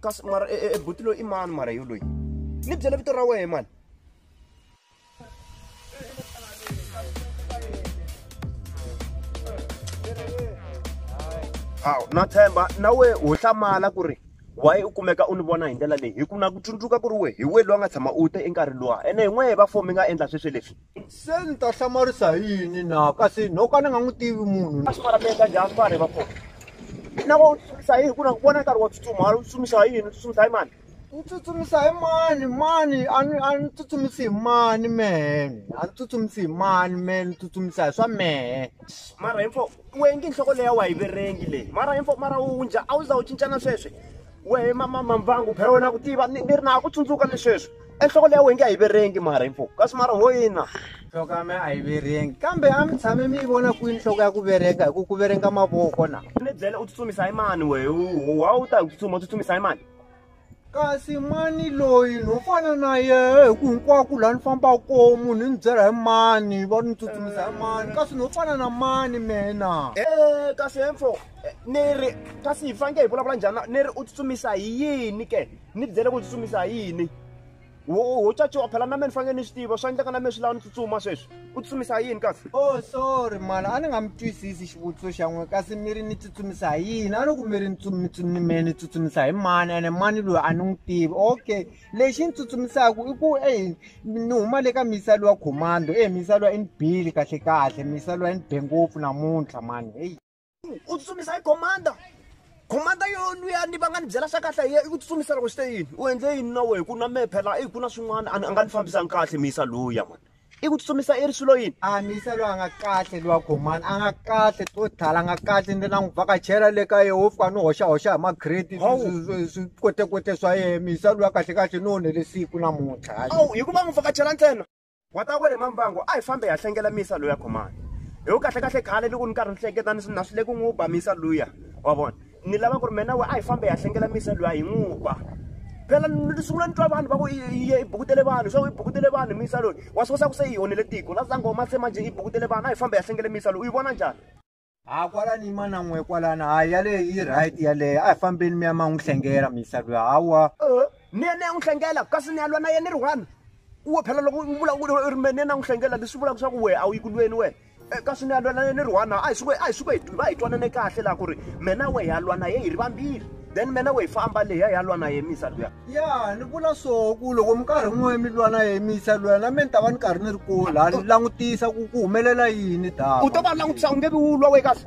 kasi mara e, e, e buti loyi i mani mara yo loyi ni byela vito ra wehe mani hawu na tshemba na we ho hlamala ku ri waye u kumeka u ni vona hi ndlela leyi hi ku na ku tsundzuka ku ri we hi we loyi a nga tshama u te enkarhi luwa ene hi n'wehe va fo mi nga endla sweswi leswi Se ni ta hlamarisa hi yini na kasi no ka ni nga n'wi tivi munhu a swi vona mi endla njhani vanhu va kona na ku tsutsumisa hi ku na ku vona nkarhi wa tsutsuma u tsutsumisa hi yini u tsutsumisa hi mani ni tsutsumisa hi mani mani a ni a ni tsutsumisi hi mani mehe a ni tsutsumisi hi mani mehe ni tsutsumisa hi swa mehe mara info wengi nhloko leyi a wa yi verengi leyi mara info mara wu njha a wu za wu cincana sweswi wehe mamamamvangu phela wena ku tiva ni ri na ku tsundzuka ni sweswi enhloko leya wenge a yi verengi mara yi mpfuka kasi mara ho yina nhloko ya me a yi verengi kambe a mi tshame mi yi vona kwini nhloko ya ku vereka hi ku ku verenga mavoko na ni byele u tsutsumisa yi mani wehe wa u ta hi ku tsutsuma u tsutsumisa yi mani kasi mani loyi no fana na yehe hi ku hinkwako laha ni fambaka koho munhu ni byela hi mani va ni tsutsumisa hi mani kasi no fana na mani mina e kasi hemfo eh, ni ri kasi hi faneke hi vulavula njhani ni ri u tsutsumisa hi yini ke ni byele ku tsutsumisa hi yini wo caciwa phela na meni fanele ni swi tiva swa endleka na meni swi lava ni tsutsuma sweswi u tsutsumisa hi yini kasi o oh, sorry mala a ni nga mi twisisi xivutiso xa n'we kasi mi ri ni tsutsumisa hi yini a ni ku mi ri ni me ni tsutsumisa hi mani ene mani loyi a ni n'wi tivi okay lexi ni tsutsumisaka i ku e ni huma le ka misa lowa commando e misa lowa i ni bile kahlekahle misa lowa i ni be ngopfu namuntlha mani heyi u tsutsumisa hi commander commander yo luya ni va nga ni byela swa kahle hi i ku tsutsumisa loko swi te yini u endle yini na wehe ku na mehe phela i ku na swin'wana a nga ni fambisanga kahle miyisa luya mani i ku tsutsumisa i ri swilo yini a miyisa loyi a nga kahle lowa commander a nga kahle to thala a nga kahle ni la n'wi vhakachela le ka yehe wo fika ni hoxahoxa hi magrade swi kotekote swa yehe miyisa loyi kahle kahle ni onhele siku namuntlha hayi hikuva n'wi vhakachela ntsena N'watakwe le Mambango a hi fambe hi ya hlengela misa luya khomani. Hi ku kahle kahle khale loko ni karhi ni hleketa ni na swi le ku n'wi ba misa luya wa vona. Ni lava ku ri mina we a hi fambe hi ya hlengela misa luya hi n'wi ba. Phela ni sungula ni twa vanhu va ku i bukutele vanhu swa ku i bukutele vanhu misa loyi wa swi kosa ku se yi onhele tiko la za ngoma se manje i bukutele vanhu a hi fambe hi ya hlengela misa loyi u yi vona njhani? ha kwala ni mana n'we kwalana hayi yaleyo yi right yaleyo a hi fambeni mi ya ma n'wi hlengela misa loyi hawa eh, ni yena ya n'wi hlengela kasi ni ya lwa na yena ri one wo phela loko u vula ri me ni yena n'wi hlengela leswi vulaka swa ku wehe a wu yi ku lweni wena eh, kasi ni ya lwa na yena ri one a hi suke a hi suke hi va hi twanane kahle laha ku ri mina wehe ya lwa na ye hi ri vambirhi then mena we famba leya ya lwa na yemisa luya ya ni vula so ku loko mi karhi n'we mi lwa na yemisa luya na me ni ta va ni karhi ni ri ku la ni langutisa ku ku humelela yini da u to va langutisa u nge vi wu lwa we kasi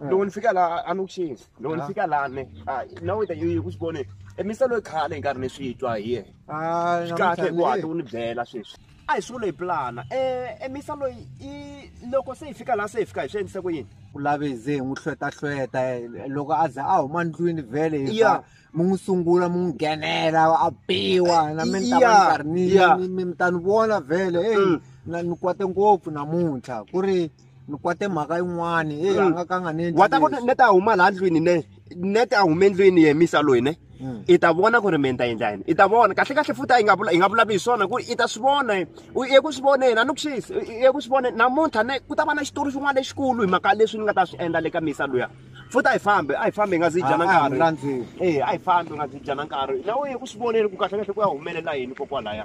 loko ni fika laha a ni ku xini loko ni fika laha ne na weta yi ku swi vone emisa loyi khale hi nkarhi ni swi twa hi ye swi kahle hi ku hatla u ni byela sweswi a hi swilo hi pulana um emisa loyi i loko se hi fika laha se hi fika hi swi endlise ku yini ku lave hi ze hi n'wi hlwetahlweta loko a za a huma ndlwini vhele hi fa mi n'wi sungula mi n'wi nghenela a biwa na mi ni ta va ni karhi ni mi mi ta ni vona vhele eyi mm. na ni kwate ngopfu namuntlha ku ri ni kwate mhaka yin'wani e a nga ka a nga ni endli wa ta ku leswi. ni ta huma laha ndlwini ne ne ta huma endlwini yemisa loyi ne Mm. i ta vona ku ri mina ta endla yini i ta vona kahle kahle futhi a yi nga vula- yi nga vulavi hi swona ku i ta swi vona yena. u ye ku swi vona yena a ni ku xisi u ye ku swi vona namuntlha ne ku ta va na xitori xin'wana lexikulu hi mhaka leswi ni nga ta swi endla le ka misa luya futhi a hi fambi a hi fambi hi nga zi hi dyana Ah, ah, nkarhi mlandzeni. e a hi fambi hi nga zi hi dyana nkarhi na u ye ku swi voneni ku kahle kahle ku ya humelela yini kokwalaya